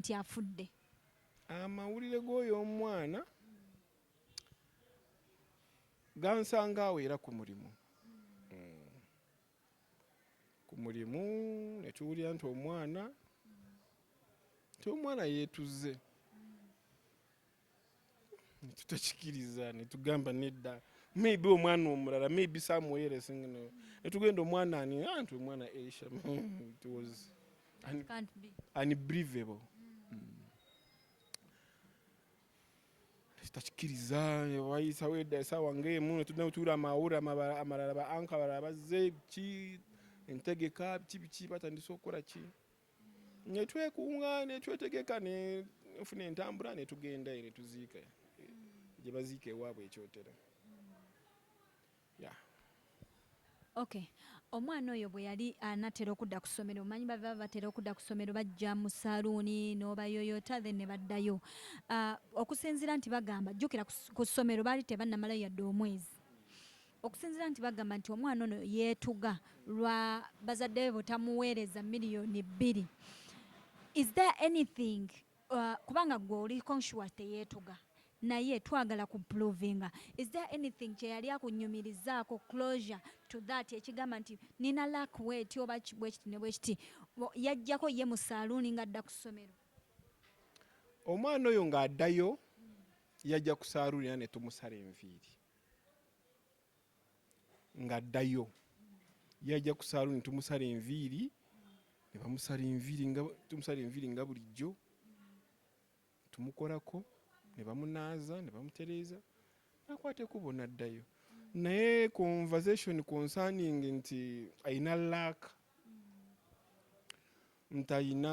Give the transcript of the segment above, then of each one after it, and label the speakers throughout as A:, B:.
A: nti afudde. Amawulire
B: g'oyo omwana gansanga awo era ku mulimu hmm. ku mulimu ne tuwulira nti omwana nti omwana yeetuze netutakikiriza netugamba nedda maybe omwana omulala maybe samuwere singino netugenda omwana ani anti ah, omwana asia it was unbelievable tutakikiriza wayisawo edda esaawa ngaemu netudda netuwula amawulire amalala ba anka balala bazze ki entegeka biki biki batandise okukola ki ne twekunga ne twetegeka ne nfuna entambula ne tugenda ne tuziika gye baziika ewaabwe ekyotera ya
A: ok omwana oyo bwe yali anatera okudda ku ssomero omanyi bava batera okudda ku ssomero bajja mu saluuni n'obayoyota then ne baddayo ah, okusinziira nti bagamba jjukira ku ssomero baali tebannamalayo yadde omwezi Okusinzira nti bagamba nti omwana ono yeetuga lwa bazadde be butamuweereza million bbiri is there anything uh, kubanga gwe oli conscious teyeetuga naye twagala ku provinga is there anything kyeyali akunyumirizaako closure to that ekigamba nti nina lak weti oba bwekiti ne bwekiti yajjako ye mu saluuni ng'adda ku ssomero
B: omwana oyo ng'addayo yajja ku saluuni era ne tumusala enviiri ng'addayo yajja ku saaluuni tumusala enviiri ne bamusala enviiri nga tumusala enviiri nga bulijjo tumukolako ne bamunaaza ne bamutereeza nakwata ekubo n'addayo naye conversation concerning nti alina laaka nti alina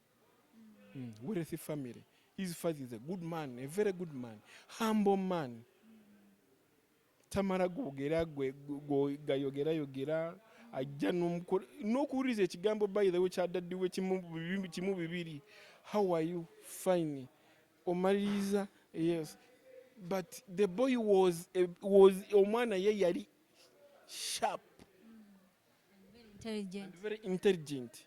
B: mm, wealthy family his father is a good man a very good man humble man tamala gogera gayogera yogera ajja n'okuwuliriza ekigambo by the way kyadaddiwe kimu bibiri how are you fine omaliriza yes but the boy was, was omwana ye yali sharp
A: and very intelligent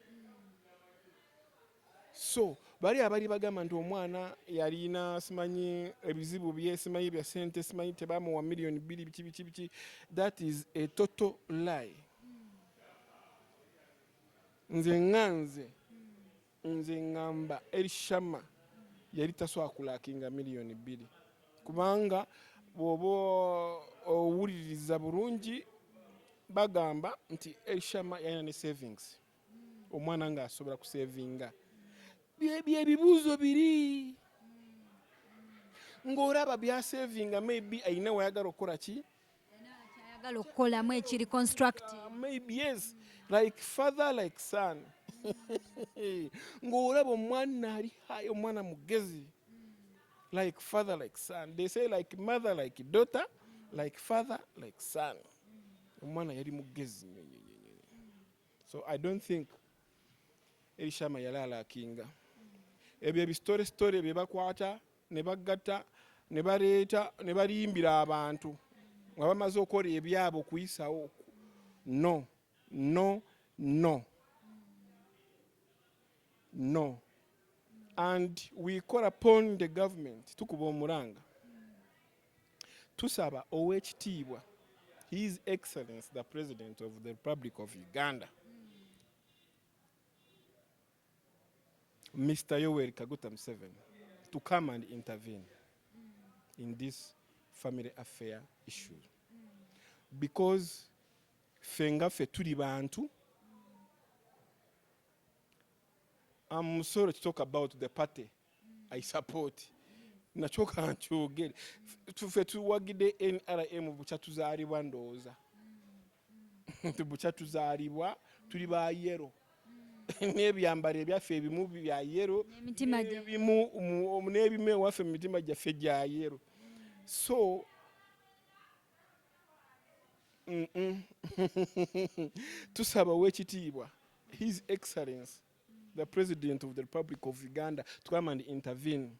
B: so bali abali bagamba nti omwana yalina simanyi ebizibu bye simanyi bya sente simanyi tebamuwa million bili biki biki biki that is a total lie nze nganze Nze ngamba Elishama yali tasobola kulakinga miliyoni bbiri kubanga bwoba owuliriza bulungi bagamba nti Elishama yalina ne savings omwana ng'asobola kusevinga byebibuuzo biri ng'olaba byasevinga maybe alina wayagala okukola ki ayagala
A: okukolamu ekiri constructive ah, maybe yes
B: like father like son ng'olaba omwana ali hayi omwana mugezi like father like son they say like mother like daughter like father like son omwana yali mugezi so i don't think erishama yali alakinga ebyo ebisitore sitore bye bakwata ne bagatta ne baleeta ne balimbira abantu nga bamaze okukola ebyabwe okuyisawo no no no no and we call upon the government tukuba omulanga tusaba ow'ekitiibwa his excellence the president of the republic of uganda Mr. Yoweri Kaguta Museveni to come and intervene in this family affair issue because ffe nga ffe tuli bantu I'm sorry to talk about the party I support nakyo kankyogere ffe tuwagide NRM bukyatuzaalibwa ndowooza nti bukya tuzaalibwa tuli ba yero n'ebyambalo ebyaffe ebimu bya yero n'ebimu ewaffe mu mitima gyaffe gya yero so tusaba owekitiibwa his excellence the president of the republic of uganda to come and intervene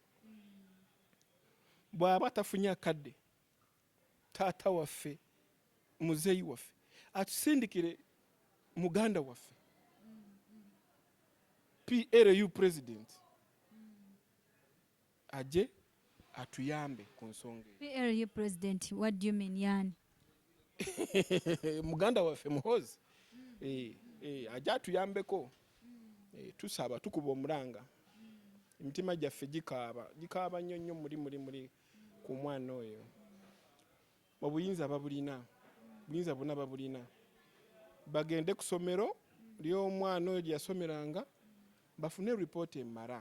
B: bw'aba tafunye akadde taata waffe muzeeyi waffe atusindikire muganda waffe PLU president aje atuyambe ku nsonga PLU president
A: what do you mean yani
B: muganda waffe muhozi eh, eh, aje atuyambeko eh, tusaba tukuba omulanga emitima gyaffe gikaaba gikaaba nnyo nnyo muli muli muli ku mwana oyo obuyinza babulina buyinza bwona babulina bagende ku somero ly'omwana oyo gyeyasomeranga bafune ripooti emara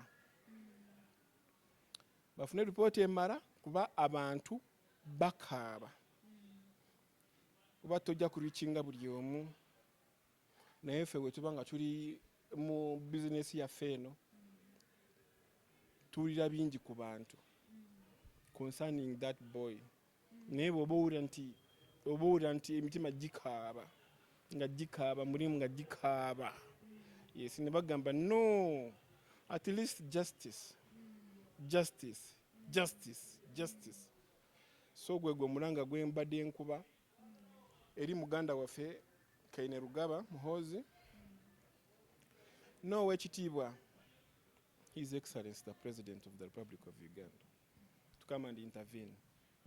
B: bafune ripooti emara kuba abantu bakaaba kuba tojja kurikinga buli omu naye ffe wetuba nga tuli mu bizinesi yaffe eno Tuwulira bingi ku bantu concerning that boy, naye bwoba owulira nti oba owulira nti emitima gikaaba nga gikaaba mulimu nga gikaaba yes, ne bagamba no at least justice justice justice justice. So gwe gwe omulanga gwe mbadde nkuba eri muganda waffe Kainerugaba Muhoozi n'owekitiibwa His Excellency the President of the Republic of Uganda to come and intervene.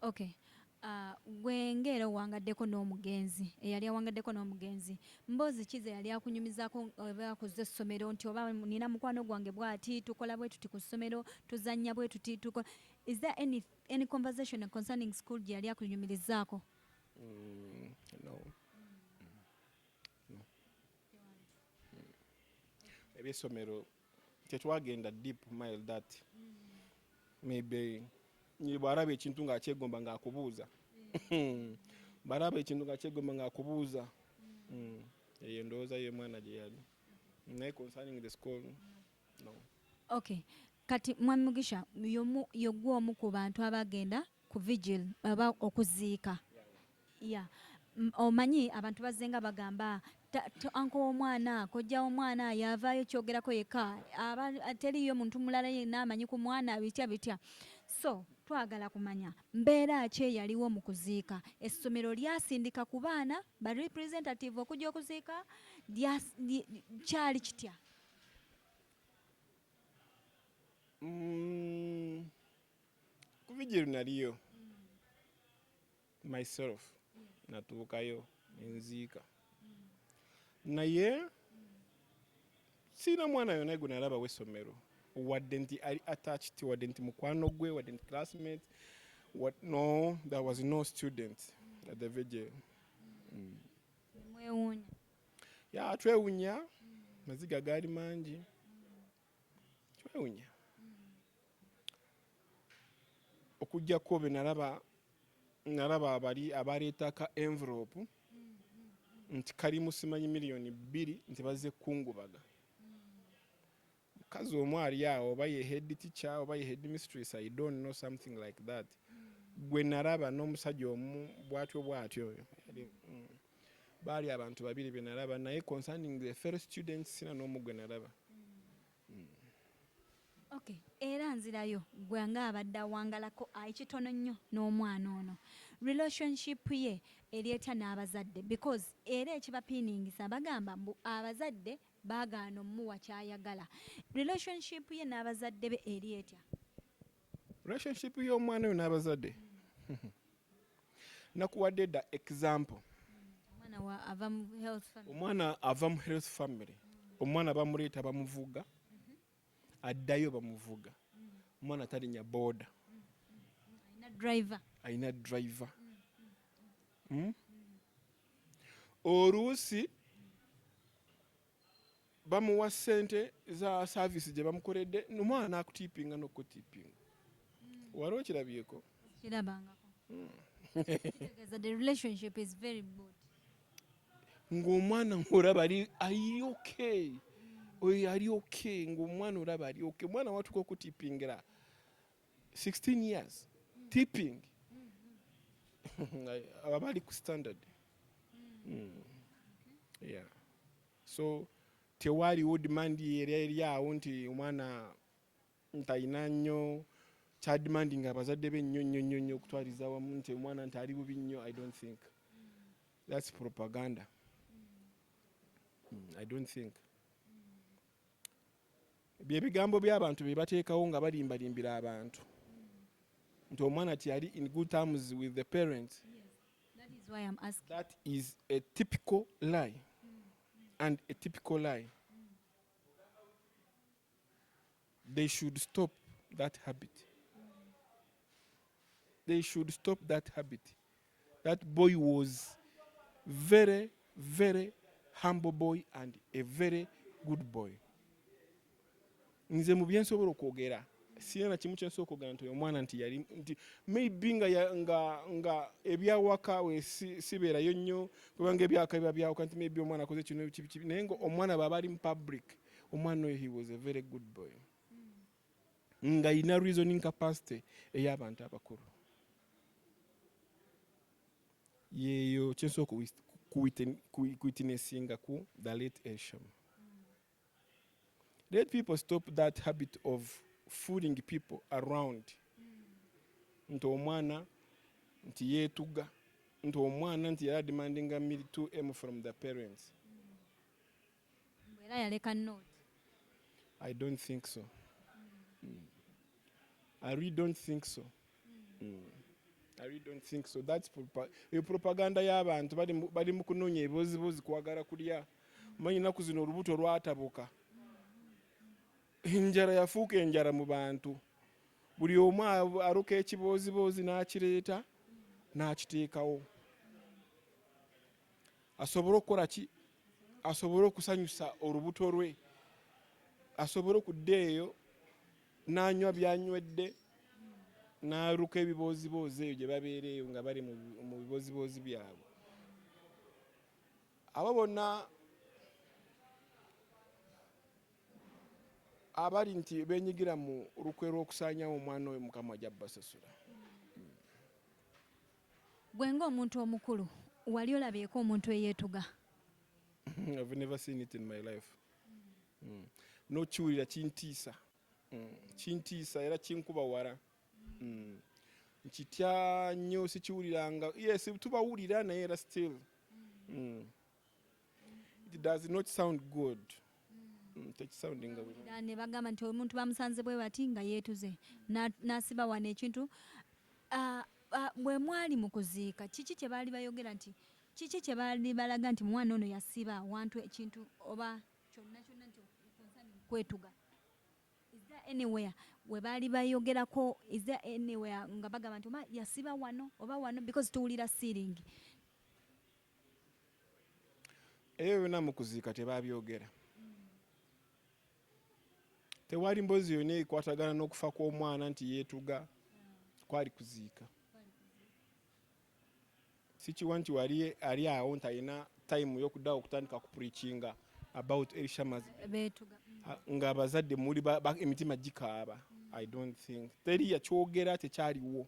B: Okay.
A: Uh, gwe ng'era owangaddeko n'omugenzi eyali awangaddeko n'omugenzi mboozi ki ze yali akunyumizaako oba ku zo essomero nti oba nina mukwano gwange bwati tukola bwe tuti ku ssomero tuzannya bwe tuti tukola is there any, any conversation concerning school gye yali akunyumirizaako mm,
B: no. mm. no. mm. ebyessomero tetwagenda deep mile that maybe bwaraba ekintu nga akyegomba nga akubuuza hmm. baraba ekintu nga akyegomba nga akubuuza hmm. eyo ndowooza yo omwana gye yali naye concerning the school no okay
A: kati mwami mugisha yogwa omu ku bantu abagenda ku vigil aba okuziika Yeah omanyi abantu bazzenga bagamba anko womwana kojja womwana yavaayo kyogerako yekka teriyo muntu mulala yenna amanyi ku mwana bitya bitya so twagala kumanya mbeera ki eyaliwo mu kuziika essomero lyasindika ku baana ba representative okujja okuziika kyali kitya
B: mm, ku vidiyo naliyo myself natuukayo nenziika naye sirina mwana yona gwe nalaba wesomero wadde nti ali attached wadde nti mukwano gwe wadde nti classmate what no there was no student at the vigil mm.
A: ya
B: twewunya maziga gaali mangi kiwewunya okujjako benalaba nalaba abali abaleetaka envelope nti kali musimanyi miliyoni bbiri nti bazze kukungubaga mukazi omu ali awo oba ye head teacher oba ye head mistress i don't know something like that gwe nalaba n'omusajja omu bwatyo bwatyo oyo mm. Baali abantu babiri be nalaba naye concerning the fellow students sina n'omu gwe nalaba. Mm.
A: Okay. Era nzirayo gwe nga abadde awangalako ekitono nnyo n'omwana ono relationship ye eri etya n'abazadde because era ekibapiiningisa bagamba mbu abazadde baagaana omuwa kyayagala relationship ye n'abazadde be eri etya?
B: relationship y'omwana oyo n'abazadde nakuwadde da example omwana ava mu health family omwana bamuleeta bamuvuga addayo bamuvuga omwana talinya boda
A: alina driver hmm?
B: oluusi bamuwa sente za service gye bamukoledde nomwana nakutipinga nokutipinga hmm. wali okirabyeko
A: kirabangako hmm. the relationship is very good
B: ng'omwana ng'olaba ali okay oyo ali okay ng'omwana olaba ali okay omwana watuka okutipingira 16 years tipping aba bali ku standard mm. yeah. so tewaliwo demand era eri awo nti omwana ntalina nnyo kyadimandi nga abazadde be nnyo nnyo nnyo nnyo okutwaliza wamu nti omwana nti ali bubi nnyo i don't think thats propaganda mm, i don't think Bye bigambo by'abantu bye bateekawo nga balimbalimbira abantu nti omwana tiyali in good terms with the parents. That is
A: why I'm asking. That is a
B: typical lie and a typical lie. They should stop that habit. They should stop that habit. That boy was very very humble boy and a very good boy. Nze mu byensobola okwogera sirina kimu kyensobola okwogera nti oyo omwana nti yali nti maybe nga, nga, nga ebyawaka we sibeerayo nnyo kubanga ebyawaka biba byawuka nti maybe omwana akoze kino kibikibi naye nga omwana baba ali mu public omwana oyo he was a very good boy. ngayina reasoning capacity eyabantu abakulu yeyo kyensobola okuwisa kuwitnessinga ku the late Esham. Let people stop that habit of fooling people around nti omwana nti yeetuga nti omwana nti yali ademandinga mil 2m from the parents
A: Mbu era yaleka note. I
B: don't think so. Mm. I really don't think so. Mm. I really don't think so. That's propa eyo propaganda y'abantu bali bali mu kunoonya ebibozibozi kwagala kulya. Manyi naku zino olubuto lwatabuka. Enjara yafuuka enjara mu bantu. Buli omu aruka ekibooziboozi n'akireeta n'akiteekawo. Asobole okukola ki asobole okusanyusa olubuto lwe asobole okudda eyo n'anywa byanywedde n'aluka ebibooziboozi eyo gye babeera eyo nga bali mu bibooziboozi byabwe abo bonna abali nti benyigira mu lukwe lw'okusaanyawo omwana oyo mukama ajja basasula
A: Gwe nga omuntu omukulu wali olabyeko omuntu eyetuga?
B: I've never seen it in my life. Mm. No kiwulira kintiisa. Mm. Kintiisa era kinkuba wara. Mm. Nkitya nnyo sikiwuliranga. Yes, tubawulira naye era still. Mm. It does not sound good. Mm, tekisoundinga
A: ne bagamba nti omuntu bamusanze bwe bati nga yeetuze n'asiba wano ekintu ah, ah, bwe mwali mu kuziika kiki kye baali bayogera nti kiki kye baali balaga nti mwana ono yasiba wantu ekintu oba kyonna kyonna nti kwetuga anywhere we baali bayogerako is there anywhere nga bagamba nti oba yasiba wano oba wano because tuwulira sealing
B: Ebyo byonna mu kuziika tebaabyogera. Tewali mboozi yonna ekwatagana n'okufa kw'omwana nti yeetuga kwali kuziika. Sikiwa nti wali ali awo nti alina tayimu y'okuddawo okutandika ku purikinga about Elisha ng'abazadde muli emitima gikaaba. I don't think teri yakyogera tekyaliwo.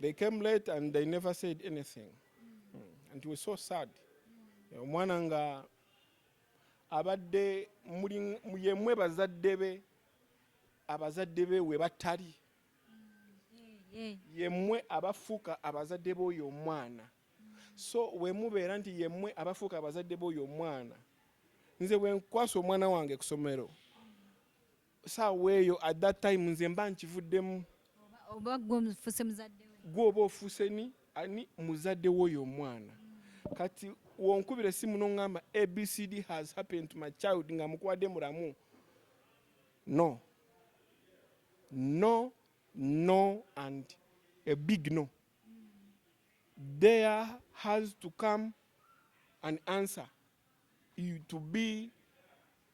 B: They came late and they never said anything. Mm. And it was so sad. Eh, omwana nga abadde yemwe bazadde be abazadde be we batali mm. yemwe abafuuka abazadde b'oyo omwana so wemubeera nti yemwe abafuuka abazadde b'oyo omwana nze bwenkwasa omwana wange kusomero saawa eyo at that time nze mba nkivuddemu oba gwe
A: ofuse muzadde we gwe oba ofuse ni
B: ani muzadde woyo omwana kati wonkubira esimu nongamba abcd has happened to my child nga mukwade muramu no no no and a big no there has to come an answer you to be